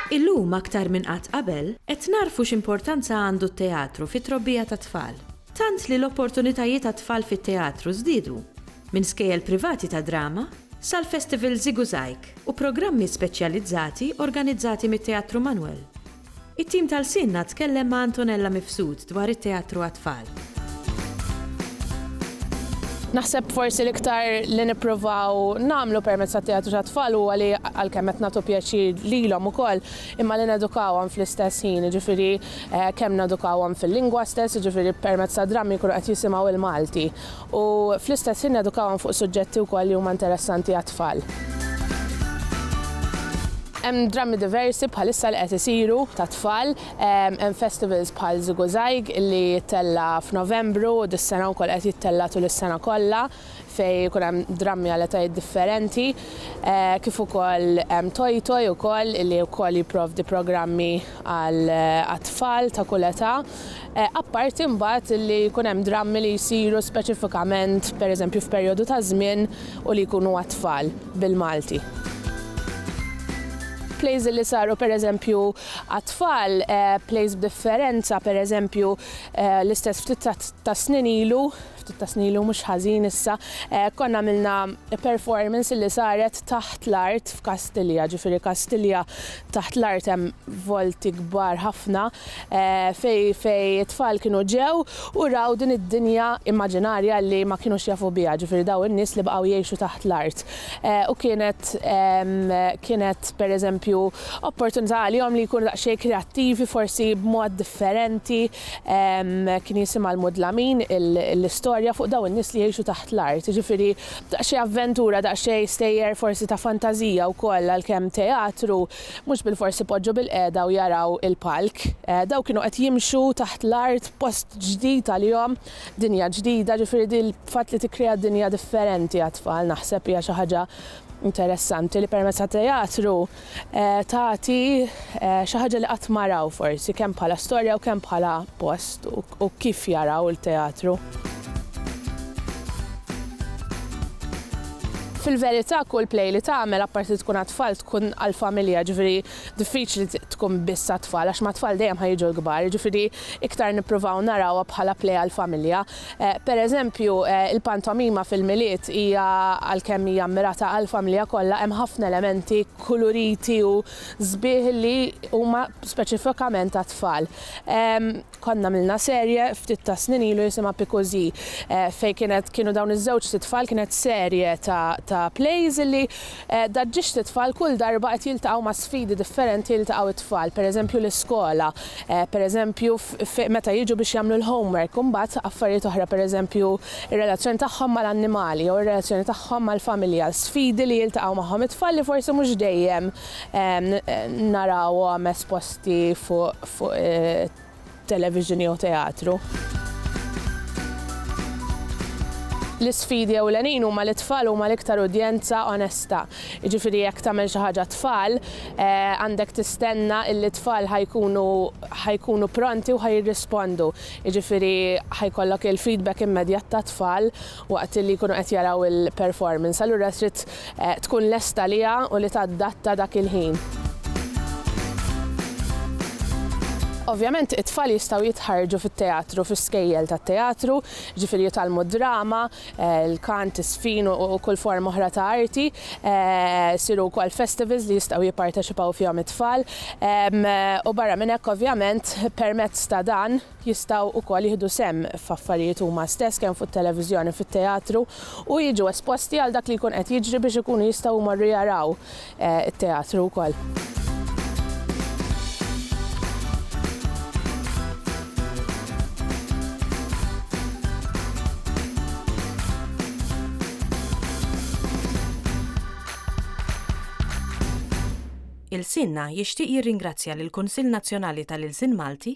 Illum aktar minn qatt qabel, qed nagħrfu x'importanza għandu t-teatru fit-trobbija tat-tfal. Tant li l-opportunitajiet għat-tfal fit-teatru żdiedu, minn skejjel privati ta' drama, sal-Festival Ziguzaig, u programmi speċjalizzati organizzati mit-Teatru Manuel. It-tim ta' Lsienna tkellem ma' Antonella Mifsud dwar it-teatru għat-tfal. Naħseb forsi l-iktar li nippruvaw nagħmlu permezz tat-teatru tat-tfal huwa li għalkemm qed nagħtu pjaċir lilhom ukoll, imma li nedukawhom fl-istess ħin, jiġifieri kemm nedukawhom fil-lingwa stess, jiġifieri permezz tad-drammi jkunu qed jisimgħu l-Malti. u fl-istess ħin nedukawhom fuq suġġetti wkoll li huma interessanti għat-tfal. Hemm drammi diversi bħalissa li qed isiru tat-tfal, hemm festivals bħal Ziguzaig li jittella' f'Novembru u dis-sena wkoll qed jittella' tul is-sena kollha fejn ikun hemm drammi għal etajiet differenti, kif ukoll hemm Toy Toy ukoll li wkoll jipprovdi programmi għat-tfal ta' kull età. Apparti mbagħad li jkun hemm drammi li jsiru speċifikament, per eżempju, f'perjodu ta' żmien u li jkunu għat-tfal, bil-Malti. Plays li saru per eżempju għat-tfal, plays b'differenza, per eżempju, l-istess ftit tas-snin ilu ftit ta' snin ilu mhux ħażin issa, konna għamilna performance li saret taħt l-art f'Kastilja, ġifieri Kastilja taħt l-art hemm volti kbar ħafna fejn fejn it-tfal kienu ġew u raw din id-dinja immaġinarja li ma kinux jafu biha, ġifieri dawn in-nies li baqgħu jgħixu taħt l-art. U kienet kienet pereżempju opportunità għalihom li jkunu daqsxejn kreattivi forsi b'mod differenti. Kien jisimha l-mudlamin, l-istorja fuq dawn in-nies li jgħixu taħt l-art. Jiġifieri daqsxejn avventura, daqsxejn stejjer forsi ta' fantażija wkoll għalkemm teatru, mhux bilfors ipoġġu bilqiegħda u jaraw il-palk. Dawn kienu qed jimxu taħt l-art f'post ġdid għalihom, dinja ġdida, jiġifieri din il-fatt li tikkrea dinja differenti għat-tfal naħseb hija xi ħaġa interessanti li permezz tat-teatru, tagħti xi ħaġa li qatt ma raw forsi, kemm bħala storja u kemm bħala post u kif jaraw il-teatru. Fil-verità kull play li tagħmel apparti tkun għat-tfal tkun għall-familja, ġifieri diffiċli tkun biss għat-tfal għax mat-tfal dejjem ħa jiġu l-kbar, jiġifieri iktar nippruvaw narawha bħala play għall-familja. Per eżempju, il-pantomima fil-Milied hija, għalkemm hija ammirata għall-familja kollha, hemm ħafna elementi kuluriti u sbieħ li huma speċifikament għat-tfal. Konna għamilna serje ftit tas-snin ilu jisimha Pikużi, fejn kienet kienu dawn iż-żewġt itfal, kienet serje ta' ta' plays li Da ġiex li t-tfal kull darba qed jiltaqgħu ma' sfidi differenti jiltaqgħu t-tfal, per eżempju l-iskola, per eżempju meta jiġu biex jagħmlu l-homework, u mbagħad affarijiet oħra per eżempju r-relazzjoni tagħhom mal-annimali jew ir-relazzjoni tagħhom mal-familja, sfidi li jiltaqgħu magħhom it-tfal li forsi mhux dejjem narawhom esposti fuq television jew teatru. L-isfidi ewlenin huma li t-tfal huma l-iktar udjenza onesta. Jiġifieri jekk tagħmel xi ħaġa t-tfal, għandek tistenna illi t-tfal ħa jkunu ħa jkunu pronti u ħa jirrispondu. Jiġifieri ħa jkollok il-feedback immedjat tat-tfal waqt li jkunu qed jaraw il-performance, allura trid tkun lesta għaliha u li tadatta dak il-ħin. Ovvjament it-tfal jistgħu jitħarrġu fit-teatru, fl-iskejjel tat-teatru, jiġifieri jitgħallmu d-drama, il-kant, iż-żfin u kull forma oħra ta' arti, isiru wkoll festivals li jistgħu jipparteċipaw fihom it-tfal u barra minn hekk ovvjament permezz ta' dan, jistgħu wkoll jieħdu sehem f'affarijiet huma stess kemm fuq it-televiżjoni, fit-teatru u jiġu esposti għal dak li jkun qed jiġri biex ikunu jistgħu jmorru jaraw it-teatru wkoll. Ilsienna jixtieq jirringrazzja lill-Kunsill Nazzjonali tal-Ilsien Malti,